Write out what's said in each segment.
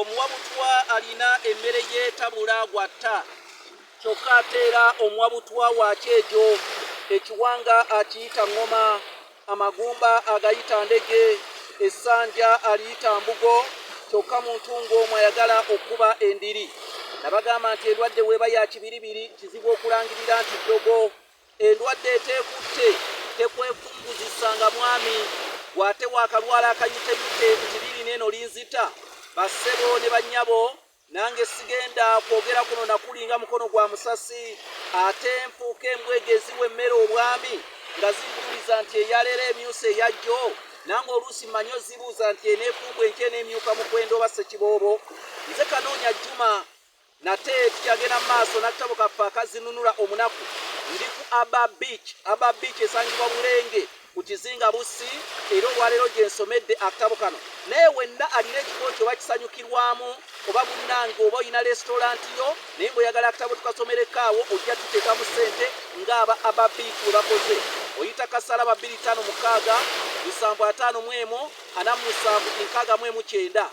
omuwa butwa alina emmere yetabula gwatta kyokka ateera omuwa butwa wakyejo ekiwanga akiyita ŋŋoma amagumba agayita ndege essanja aliyita mbugo kyokka muntu ng'omu ayagala okukuba endiri nabagamba nti endwadde weeba ya kibiribiri kizibu okulangirira nti ddogo Endwadde eteekutte tekwekunguzisa nga mwami gw'ate waakalwala akayuteyute nti liri neeno linzita, bassebo ne bannyabo nange sigenda kwogera kuno na kuli nga mukono gwa musasi ate nfuuka embwega eziwa emmere obwami nga zinjuliza nti eyaleero emyusa eyajjo nange oluusi mmanyi ozibuuza nti eneefumbwa enkya eneemyuka mukwenda oba ssekiboobo nze kanoonya jjuma Nate tukyagenda mu maaso n'akatabo kaffe akazinunula omunaku ndi ku Aba Beach. Aba Beach esangibwa Bulenge ku kizinga Bussi era olwaleero gye nsomedde akatabo kano. Naye wenna alina ekifo nti oba kisanyukirwamu oba munnange oba olina lesitolanti yo naye ng'oyagala akatabo tukasomerekaawo ojja tuteeka mu ssente ng'aba Aba Beach we bakoze. Oyita kasala ba 256 75 47 6 mu 9.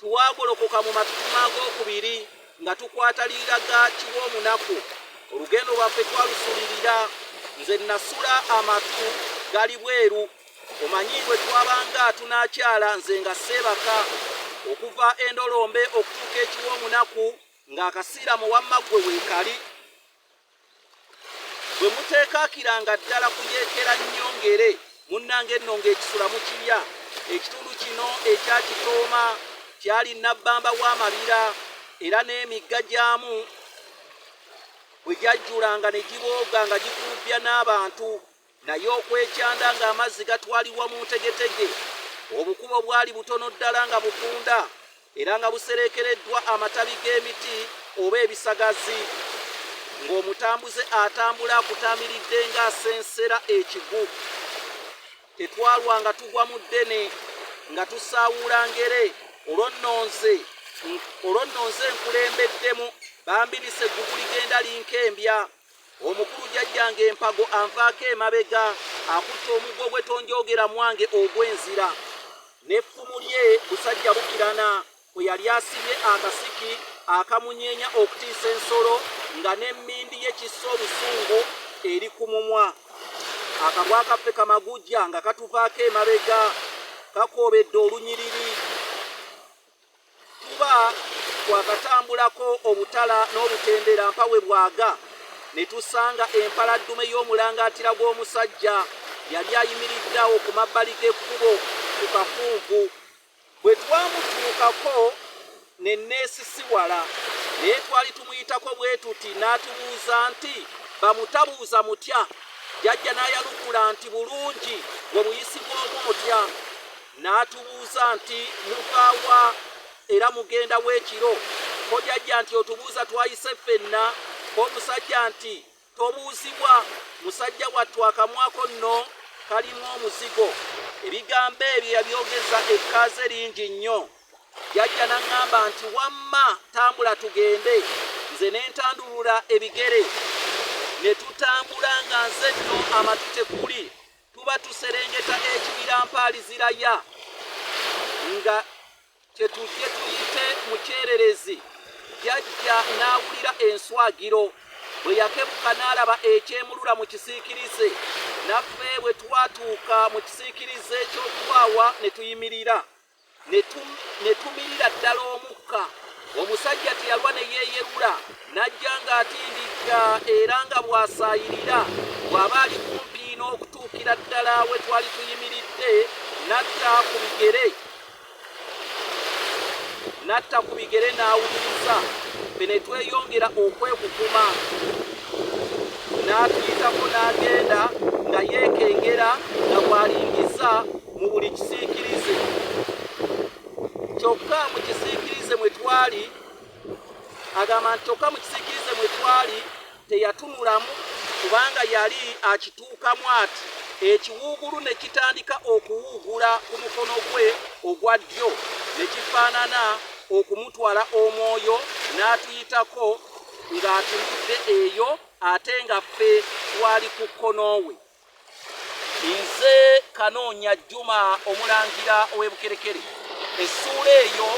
Twagolokoka mu matutumu ag'okubiri nga tukwata liiraga kiw'omunaku. Olugendo lwaffe twalusulirira. Nze nasula amatu gali bweru. Omanyi bwe twabanga tunaakyala nze nga seebaka. Okuva endolombe okutuuka ekiw'omunaku ng'akasiiramu wamma ggwe weekali. bwe muteekaakiranga ddala kuyeekera nnyo ngere munnange nno ng'ekisula mu kibya ekitundu kino ekya kitooma kyali nabbamba w'amabira era n'emigga gyamu bwe gyajjulanga ne gibooga nga gikulubbya n'abantu Naye okwekyanda ng'amazzi gatwalibwa mu ntegetege, obukubo bwali butono ddala nga bufunda era nga busereekereddwa amatabi g'emiti oba ebisagazi, ng'omutambuze atambula akutaamiridde ng'asensera ekigu. Tetwalwanga tugwa mu ddene nga tusaawuula ngere, olwo nno nze olwo nno nze nkulembeddemu bambi lise eggugu ligenda linkembya. omukulu jajjange empago anvaako emabega akutte omuggo gwe tonjoogera mwange ogw'enzira n'effumu lye busajja bukirana kwe yali asibye akasiki akamunyeenya okutiisa ensolo nga n'emmindi ye kissa obusungu eri ku mumwa akabwa kaffe kamagujja nga katuvaako emabega kakoobedde olunyiriri kuba twakatambulako obutala n'obutendera mpa we bwaga ne tusanga empaladdume y'omulangaatira gw'omusajja yali ayimiridde awo ku mabbali g'ekkubo ku kakuugu bwe twamutuukako ne neesisiwala naye twali tumuyitako bwe tuti n'atubuuza nti bamutabuuza mutya jajja n'ayanukula nti bulungi we buyisi bw'omu mutya N'atubuuza nti, Muva wa era mugenda wa ekiro? Ko jajja nti, Otubuuza twayise ffenna? K'omusajja nti, Tobuuzibwa, musajja wattu akamwako nno kalimu omuzigo. Ebigambo ebyo yabyogeza ekkaaze lingi nnyo. Jajja n'aŋŋamba nti, Wamma tambula tugende. Nze ne ntandulula ebigere ne tutambula nga nze nno amatu tekuli. tuba tuserengeta ekibira mpaaliziraya nga kyetujje tuyite mu kyererezi yajja n'awulira enswagiro bwe yakebuka n'alaba ekyemulula mu kisiikirize naffe bwe twatuuka mu kisiikirize ky'okubaawa ne tuyimirira ne tumirira ddala omukka omusajja teyalwa ne yeeyerula n'ajja ng'atindikka era nga bw'asaayirira bw'aba ali kumpi n'okutuukira ddala we twali tuyimiridde n'atta ku bigere n'atta ku bigere n'awuliriza fe ne tweyongera okwekukuma n'atuyitako n'agenda nga yeekengera nga bw'alingizza mu buli kisiikirize kyokka mu kisiikirize mwe twali agamba nti kyokka mu kisiikirize mwe twali teyatunulamu kubanga yali akituukamu ati ekiwuugulu ne kitandika okuwuugula ku mukono gwe ogwa ddyo ne kifaanana okumutwala omwoyo n'atuyitako ng'atuudde eyo ate nga ffe twali ku kkono we nze kanoonya jjuma omulangira ow'ebukerekere essuula eyo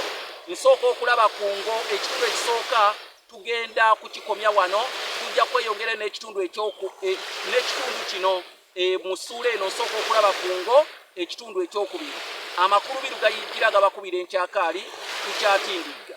nsooka okulaba ku ngo ekitundu ekisooka tugenda kukikomya wano tujja kweyongera n'ekitundu ekyoku e, n'ekitundu kino e, mu ssuula eno nsooka okulaba ku ngo ekitundu ekyokubiri amakulu biru gayijjira gabakubira enkyakaali tukyatindigga